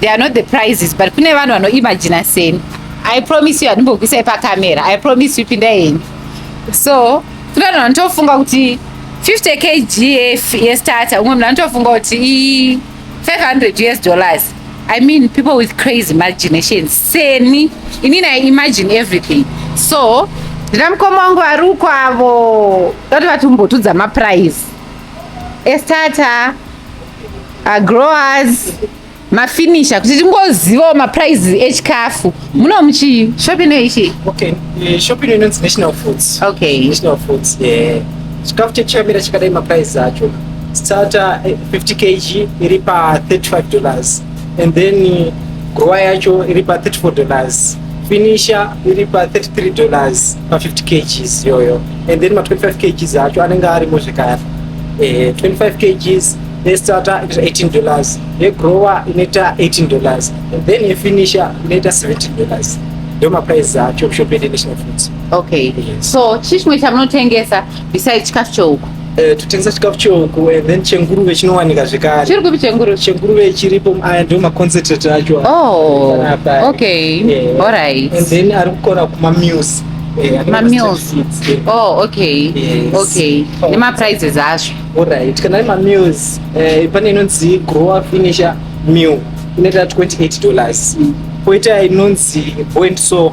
They are not the prizes but kune vanhu vanoimagina seni. I promise you handimbokuisai pacamera. I promise you pinda henyu. So kune vanhu vanotofunga kuti 50 kg yestarter umwe munhu anotofunga kuti i 500 us dollars. I mean people with crazy imaginations. Seni inini I imagine everything. So ndina mukoma wangu vari uko avo toti vatimbotudza maprize estarter Agrowers mafinisha kuti tingozivawo maprices echikafu muno muchii shop ino ichi okay eh, shop ino inonzi national foods okay national foods eh chikafu chechamira chakadai maprices acho starter 50 eh, kg iri pa 35 dollars and then eh, grower yacho iri pa 34 dollars finisher iri pa 33 dollars pa 50 kgs yoyo and then ma 25 kgs acho anenge arimo zvekare eh, 25 kgs yestarter inoita 18 dollars yegrower inoita 18 dollars and then yefinisher inoita 70 dollars ndio maprice acho kushop yedu yenational foods okay yes. so chii chimwe chamunotengesa besides chikafu chehuku eh, totengesa chikafu chehuku eh, then chenguruve chinowanika zvekare chiri kupi chenguruve chenguruve chiripo aya ndio maconcentrate acho oh, okay yeah. alright and then ari kukona kuma meals eh, mameals oh okay yes. okay oh. nemaprizes azvo alright kana ari mameals eh, pane inonzi grower finisher meal inoita 28 dollars mm. poita inonzi boint so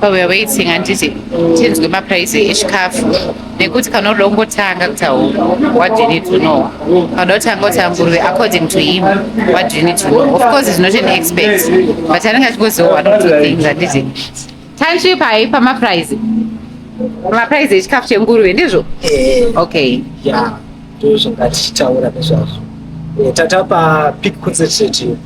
So we are waiting handiti tinzwe maprice echikafu nekuti kana uda kungotanga kutaura what do you need to know kana uda kutanga kuti anguruve according to him what do you need to know of course is not an expert but anenge achingoziva one or two things handiti tanzwi pai pamaprice pamaprice echikafu chenguruve ndizvo eh, okay ya ndozvangatichitaura nezvazvo eh, tatapa pic concentrate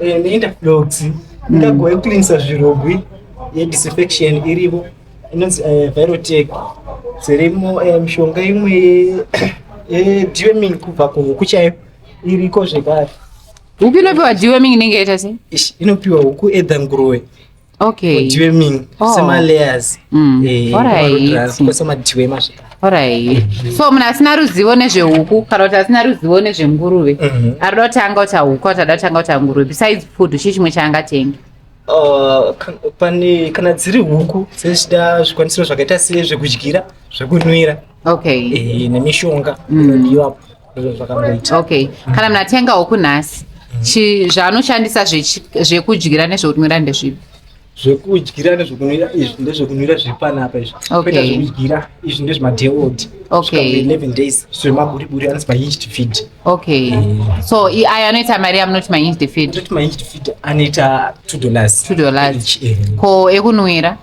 Eh, neinda dogs ingago yekucleanisa zvirogwi yedisinfection iripo inonzi eh, virotec dzirimo eh, mishonga imwe yedearming kubva kuhuku chaiyo iriko zvekare huku inopiwa dearming inenge yaita sei inopiwa huku edha nguruwe okay mudhiwe mini oh. semalayers mm. eh, alright masvika Alright. So munhu asina ruzivo nezvehuku kana kuti asina ruzivo nezvenguruve mhm. anoda kuti anga kuti huku kuti ada kuti anga kuti nguruve besides food chii chimwe chaangatenga uh, pane kana dziri huku dzechida zvikwanisiro zvakaita sezvekudyira zvekunwira okay eh, nemishonga inodiwapo mm. okay kana munhu atenga huku nhasi chi- zvaanoshandisa zvechi- zvekudyira nezvekunwira ndezvipi zvekudyira nezvekunwira izvi ndezvekunwira zviri panapa izvi Okay. kwete zvekudyira izvi ndezvemadeod Okay. 11 days zvemaburiburi anonzi mahinged feed okay so i- ayo anoita mari yamunoti mahinged feed ndoti mahinged feed anoita 2 dollars Two dollars. Each, eh. ko ekunwira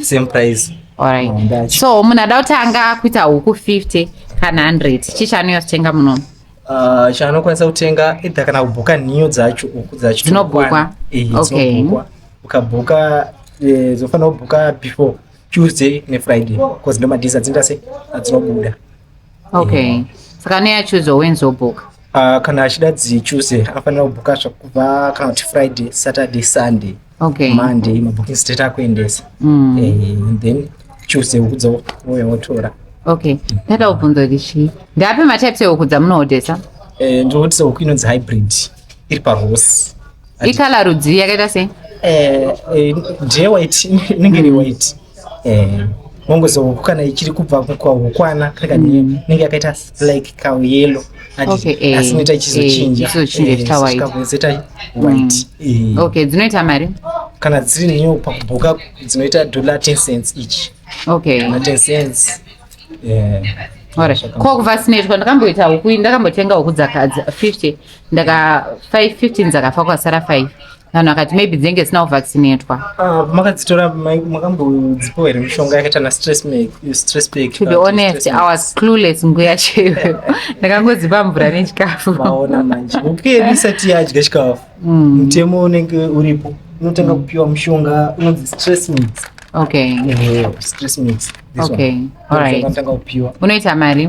same price alright oh, so munhu ada kutanga kuita huku 50 kana 100 chii chaanouya kutenga munomu uh, chaanokwanisa kutenga ita kana kubhuka nhiyo dzacho huku dzacho dzinobhukwa okay. ukabhuka eh, dzofanira kubhuka before tuesday nefriday bcause ndomadiza dzinoita se adzinobuda okay mm. saka ne achuze wenzi obhuka uh, kana achida dzichuze anofanira kubhuka zvakubva kana kuti friday saturday sunday okay. monday mabooking state akuendesa mm. eh, then tuesday ukudza wouya wotora okay ndada kubvunza kuti chii ndape matypes ehuku dzamunoodesa eh, ndinoodesa huku inonzi hybrid iri parose ikala rudzii yakaita sei eh, eh, ndeyewhite inenge iri white eh mongozo huku kana ichiri kubva kwahukwana kana mm. inenge yakaita like kauyelo asi eh, inoita ichizochinja ichizochinjaitawaitikazoita eh, white mm. eh. okay dzinoita mari kana dziri new pakubuka dzinoita dollar 10 cents each okay na 10 cents yeah ko kuvasineitwa ndakamboita huku ndakambotenga huku dzakadza 50 ndaka 5 15 dzakafa kwasara 5 vanhu vakati maybe dzinenge dzisina kuvaccinatwa ah, makadzitora makambodzipiwa here mishonga yakaita nastress pack to be honest i was clueless nguya chaiyo ndakangodzipa mvura nechikafu maona manje ukeni isati yadya chikafu mm. mutemo unenge uripo unotanga kupiwa mushonga unonzi stress mix okay stress mix okay all right unoita mari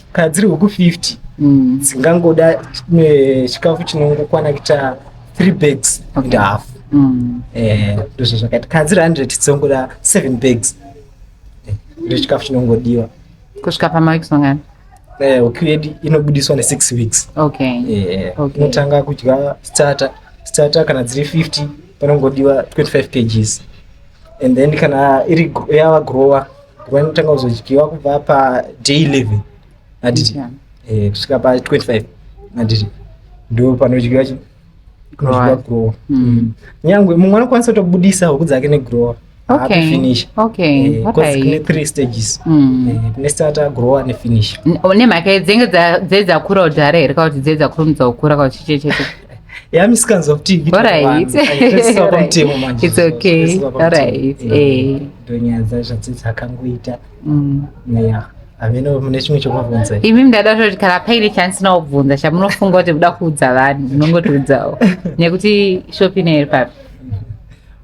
kana dziri huku 50 mm. dzingangoda eh, chikafu chinongokwana kuita 3 bags and half mm. eh, ndozvo zvakaita kana dziri 100 dzongoda 7 bags eh, ndo chikafu chinongodiwa kusvika pamaweeks mangani huku yedu inobudiswa ne6 weeks inotanga kudya starter starter kana dziri 50 panongodiwa 25 kgs and then kana iri yava grower vanotanga kuzodyiwa kubva paday eleven aditi eh, kusvika pa 25 aditi ndo panodyiwa chi kunodyiwa grower hmm. Hmm. nyangwe mumwe anokwanisa kutobudisa huku dzake negrower aakufinish eh, kune three stages hmm. eh, kune starter grower nefinish oh, nemhaka dzenge dzedzakura kudhara here ka kuti dzedzakurumidza kukura ka kuti chichechete Yeah, misikanzwa kuti ndonyaya dzacho dzidzakangoita yeah hameno mune chimwe chekubvunza imi ndada toti kana paine chansi naobvunza chamunofunga kuti muda kuudza vanhu munongotiudzawo nekuti shopi ino iri papi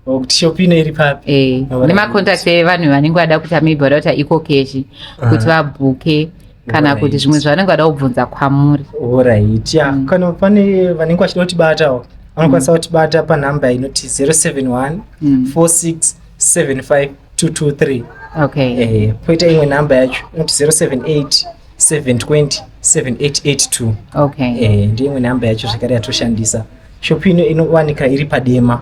kuti shopi ino iri papi eh, nemacontact evanhu vanenge vada kuita maybe vada kuita ecocash kuti ah. vabhuke kana kuti zvimwe zvavanenge vada kubvunza kwamuri orit ya mm. kana pane vanenge vachida kutibatawo vanokwanisa mm. kutibata panhamba inoti 071 46 75 223 okay eh, poita imwe nhamba yacho inoti 078 720 7882 okay eh, ndiyo imwe nhamba yacho zvekare yatoshandisa shopu ino inowanika iri padema